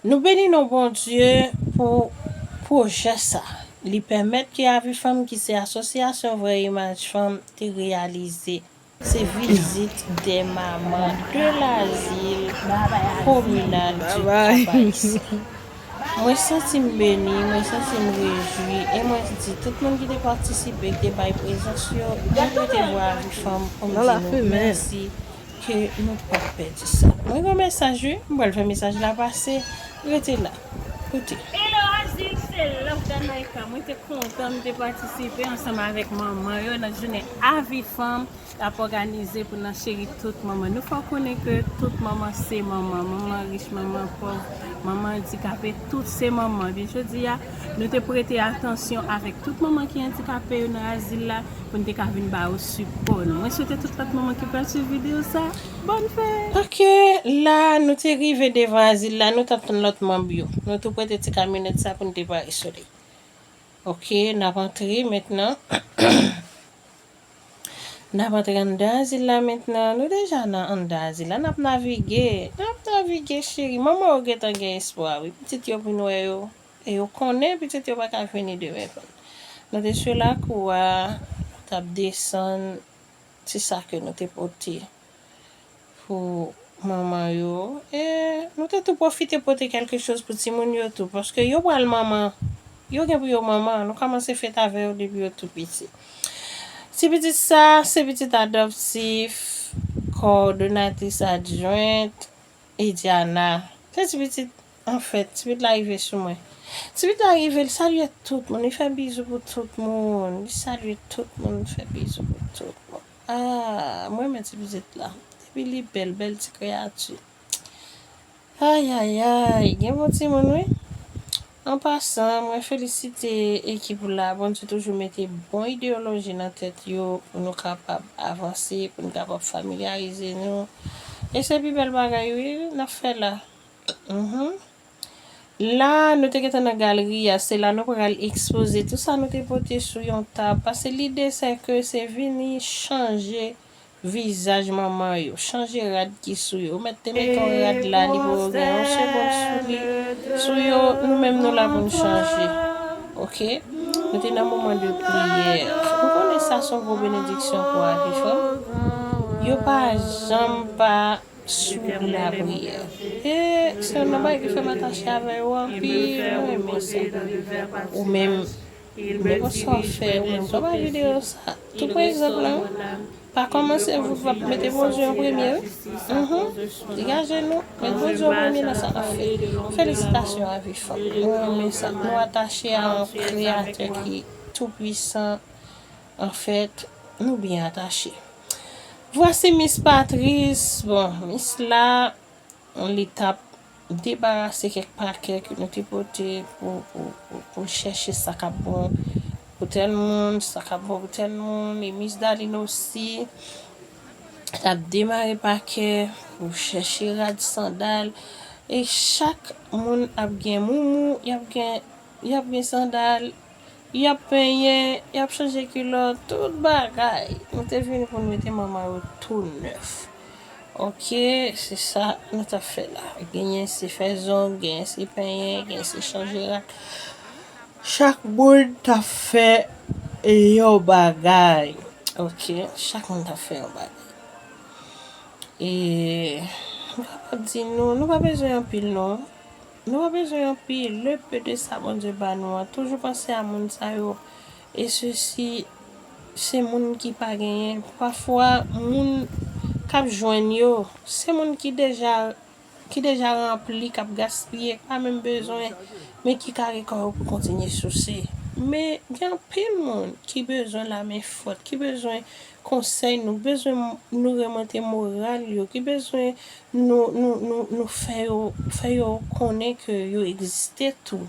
Nou beni non Bondye pou pwojè sa. Li pèmèt ke Avi Fanm ki se Asosyasyon Vrè Imaj Fanm te reyalize. Se vizit 2 manman de Lazil Kominal di Kabayisan. Mwen santi m beni, mwen santi m rejwi e mwen di tout moun ki te patisipe, ki te bay prezans yo, mwen pote bwa Avi Fanm pou m di nou mèsi Ke nou pap pèdi sa. Mwen gen yon mesaj wi, m pral fè mesaj la pase, rete la, koute. Hello Azul se Love Danaika mwen te kontan m te patisipe ansanm avèk manman yo nan jounen avi fanm y ap òganize pou nan cheri tout manman nou fè w konnen ke tout manman se manman manman rich manman pòv manman andikape tout se manman ebyen jodi a Nou te prete atansyon avèk tout manman ki andikape yo nan azil la pou n te ka vin ba yo sipò nou. Mwen swete tout lòt manman ki pral swiv videyo sa a, bòn fèt! Ok, la a, nou te rive devan azil la, nou t ap tann lòt manm yo. Nou tou prete ti kamyonèt sa a pou n depare sou li. Ok, n ap antre mentnan. N ap antre anndan azil la mentnan. Nou deja nan anndan azil la. N ap navige. N ap navige cheri. Manman yo gentan gen espwa wi. Pitit yo vin wè yo. E yo konnen pitit yo pa ka vini demen pou n. Nou te sou lakou a. Nou t ap desann ti sa ke nou te pote. pou manman yo e nou te tou pwofite pote kèlke choz pou timoun yo tou paske yo pral manman yo gen pou yo manman nou kòmanse fete avè yo depi yo tou piti ti pitit sa se pitit adòptif kòdonatris adjwent Ediana se ti pitit anfèt ti pitit la rive sou mwen ti pitit la rive li salye tout moun li fè bizou pou tout moun li salye tout moun li fè bizou pou tout moun. Aah m renmen ti pitit la. Epi li bèl, bèl ti kreyati. Ayayayy gen bon timoun wi. An pasan mwen felisite ekip la Bondye toujou mete bon ideyoloji nan tèt yo pou nou kapab avanse pou nou kapab familyarize nou e se pi bèl bagay wi nap fè la. La, nou te gentan nan galri a, se la nou pral ekspoze tou sa nou te pote sou yon tab, pase lide sè ke se vini chanje vizaj manman yo, chanje rad ki sou yo, ou mèt te mete yon rad la li pou gen yon segond sou li, sou yo, nou menm nou la pou nou chanje. Ok? Nou te nan moman de priyè. Ou konnen sa son gwo benediksyon pou Aviv. Yo pa janm pa. Superbe la prière. Eeh sèm nan bagay ki fèm atache avè yo anpil mwen renmen sa ou menm men kòman sa wap fè ou menm konpa video sa tou pran egzanp nan pa kòmanse vout vant mete Bondye an premye wi humm degaje nou met Bondye an premye nan sa nap fè felisitasyon avi fanm mwen renmen sa nou atache a yon kreyatè ki tou pwisan. Anfèt, nou byen atache. Vwasi Mis Patris, bon, Mis la, li t ap debarase kèk pakè ke nou te pote pou l chèche sa k ap bon pou tèl moun, sa k ap bon pou tèl moun. E Mis Dalin osi t ap demare pakè pou l chèche rad sandal. E chak moun ap gen moumou, y ap gen sandal. Y ap penyen, y ap chanje kilòt, tout bagay. Nou te vini pou n mete manman yo tou nèf. Oke, se sa nou t ap fè la. Genyen se fè zong, genyen se penyen, genyen se chanje rad. Chak moun t ap fè yon bagay. Oke, chak moun t ap fè yon bagay. E, m pa p ap di nou, nou pa bezwen anpil non. Nou pa bezwen yon pi le peu de sa Bondye ba nou an toujou panse a moun sa yo e sesi se moun ki pa genyen pafwa moun kap jwenn yo se moun ki deja ki deja ranpli kap gaspiye ki pa menm bezwen men ki kare kò yo pou kontinye souse men gen anpil moun ki bezwen la men fòt ki bezwen konsèy nou bezwen nou remante moral yo ki bezwen nou nou nou nou fè yo fè yo konnen ke yo egziste tou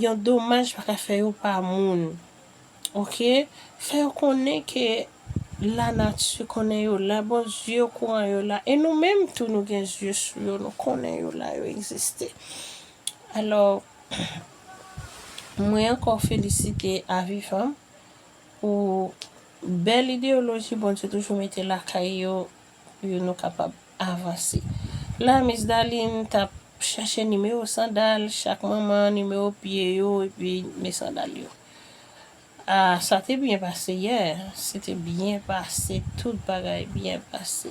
yon domaj pa ka fè yo pa moun ok fè yo konnen ke la nati konnen yo la bon zye yo kouran yo la e nou menm tou nou gen zye sou yo nou konnen yo la yo egziste alò mwen ankò felisite aviv Pou bèl ideyoloji Bondye toujou mete lakay yo pou yo nou kapab avanse la miss Darline tap chache nimewo sandal chak manman nimewo pye yo epi nime sandal yo ah sa te byen pase yè se te byen pase tout bagay byen pase.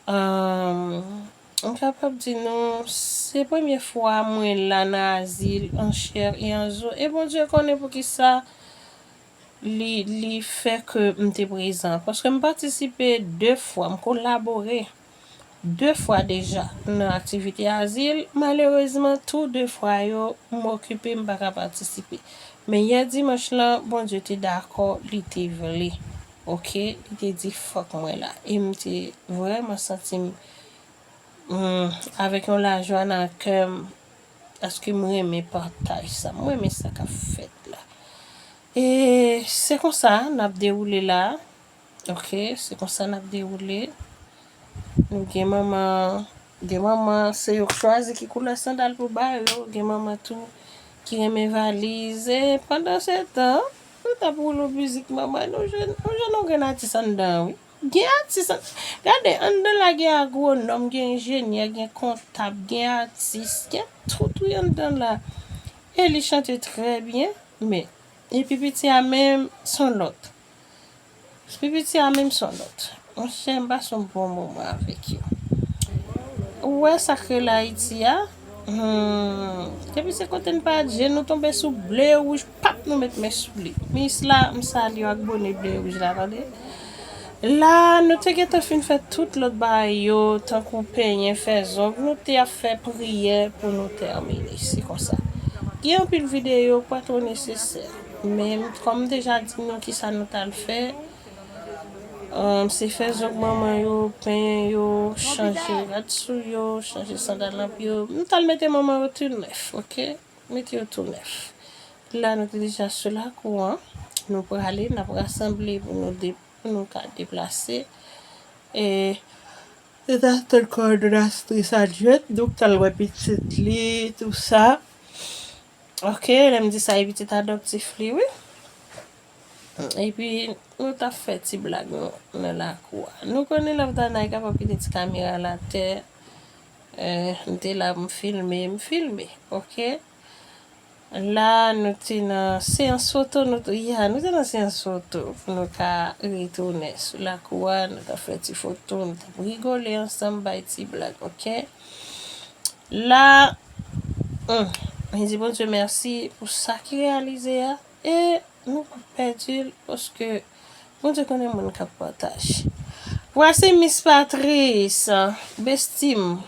Humm m kapab di nou se premye fwa mwen la nan azil an chè e an zo e Bondye konnen poukisa li li fè ke m te prezan paske m patisipe 2 fwa m kolabore 2 fwa deja nan aktivite azil malerezman tou 2 fwa yo m okipe m pa ka patisipe men yè dimanch lan Bondye te dakò li te vle. Ok li te di fòk mwen la e m te vrèman santi m avèk yon lajwa nan kè m paske m renmen pataj sa m renmen sa k ap fèt la e se konsa n ap dewoule la ok se konsa n ap dewoule nou gen manman gen manman se yo k chwazi ki koulè sandal pou ba yo gen manman tou ki renmen valiz e pandan se tan Nou tap roule music manman nou jwenn on jan nou grenn atis anndan wi gen atis an gade anndan la gen agronòm gen enjenyè gen kontab gen atis gen tout wi anndan la e li chante trè byen men e pi piti a menm son lòt S pipiti a menm son lòt. Monchè m pase yon bon moman avèk yo. Ou wè sa k rele Ayiti a? Humm. Depi se kote n pa al je nou tonbe sou ble e wouj pap nou met men sou li. Miss la m salye w ak bone ble e wouj la tande. La nou te gentan fin fè tout lòt bagay yo tankou penyen, fè zong. Nou te ap fè priyè pou nou tèmine. Se konsa. Gen anpil videyo pa twò nesesè. Men, kòm m deja di nou kisa nou t al fè, se fè zòk manman yo, penyen yo, chanje rad sou yo, chanje sandal nan pye yo. Nou t al mete manman yo tou nèf, oke, mete yo tou nèf. La nou te deja sou lakou an, nou prale, n ap rasanble pou nou de, pou nou ka deplase. E, nou t al tann kòdonastris Adjwèt nou k t al wè pitit li, tou sa. Ok lèm di sa e pitit adoptif li wi. Epi nou tap fè ti blag nou nan lakou a. Nou konnen Lovedanay kapab kite ti kamera l atè. M te la pou m filme, m filme ok. La nou te nan seyans foto nou tou ya, nou te nan seyans foto pou nou ka retounen sou lakou a nou tap fè ti foto nou tap rigole ansanm bay ti blag ok. La humm mwen di Bondye mèsi pou sa ki reyalize a e nou pa pèdi l paske Bondye konnen moun kap pataj wa se Miss Patrice besti m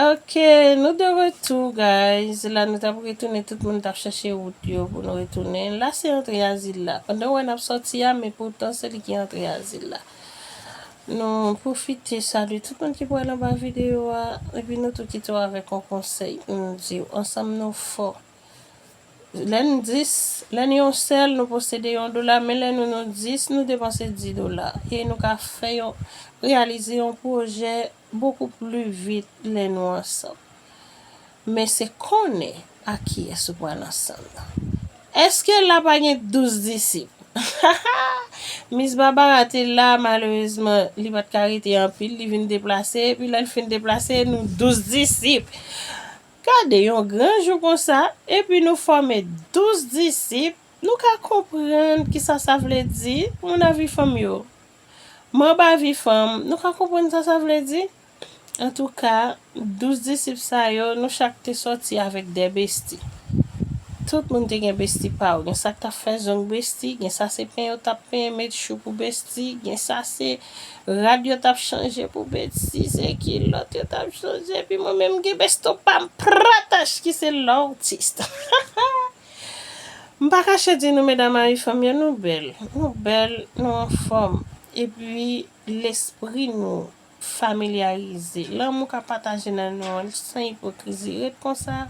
ok nou de retou guys la nou tap retounen tout moun tap chèche wout yo pou nou retounen la se antre azil la pandan wè nap sòti a men poutan se li ki antre azil la Nou pwofite salye tout moun ki pral anba video a epi nou tou kite w avèk yon konsèy pou nou di w, ansanm nou fò. Lè n 10, lè n yon sèl nou posede yon dola men lè nou nou 10 nou depanse 10 dola e nou ka fè yon reyalize yon pwojè bokou pli vit lè nou ansanm. Men se konnen ak kiyès ou pral ansanm nan. Eske la pa gen 12 disip? Hahaa! Mis Barbara te la, malerezman, li pa t ka rete anpil, li vin deplase, epi lè l fin deplase, nou 12 disip! Gade yon gran jou konsa, epi nou fòme 12 disip, nou ka konprann ki sa sa vle di, moun Avifanm yo. Manb Avifanm, nou ka konprann sa sa vle di? Antouka, douz disip sa yo, nou chak te sòti avèk de besti. Tout moun te gen besti pa yo. Gen sa k t ap fè zong besti, gen sa se pen yo t ap pen, met chou pou besti, gen sa se rad yo t ap chanje pou besti, se kilòt yo t ap chanje. Epi mwen menm m gen besto pa m pratache ki se L'Artiste. M pa kache di nou medam Ayifanm yo, nou bèl, nou bèl, nou anfòm. Epi lespri nou Familyarize. Lanmou ka pataje nan nou an san ipokrizi. Ret konsa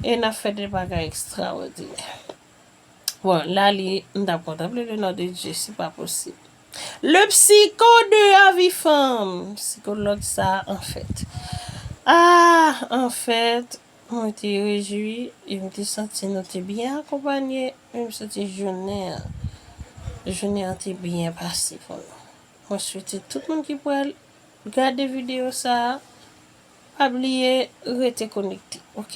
e n ap fè de bagay ekstrawòdinè. Bon, la li, m t ap kontanple le non de Dye, se pa posib. Le psiko de avi fanm! Psikològ sa a, anfèt. A! Anfèt, mwen te rejwi e m te santi nou te byen akonpanye. E m santi jounen an, jounen an te byen pase pou nou. Mwen swete tout moun ki pral gade video sa a pa bliye rete konekte ok.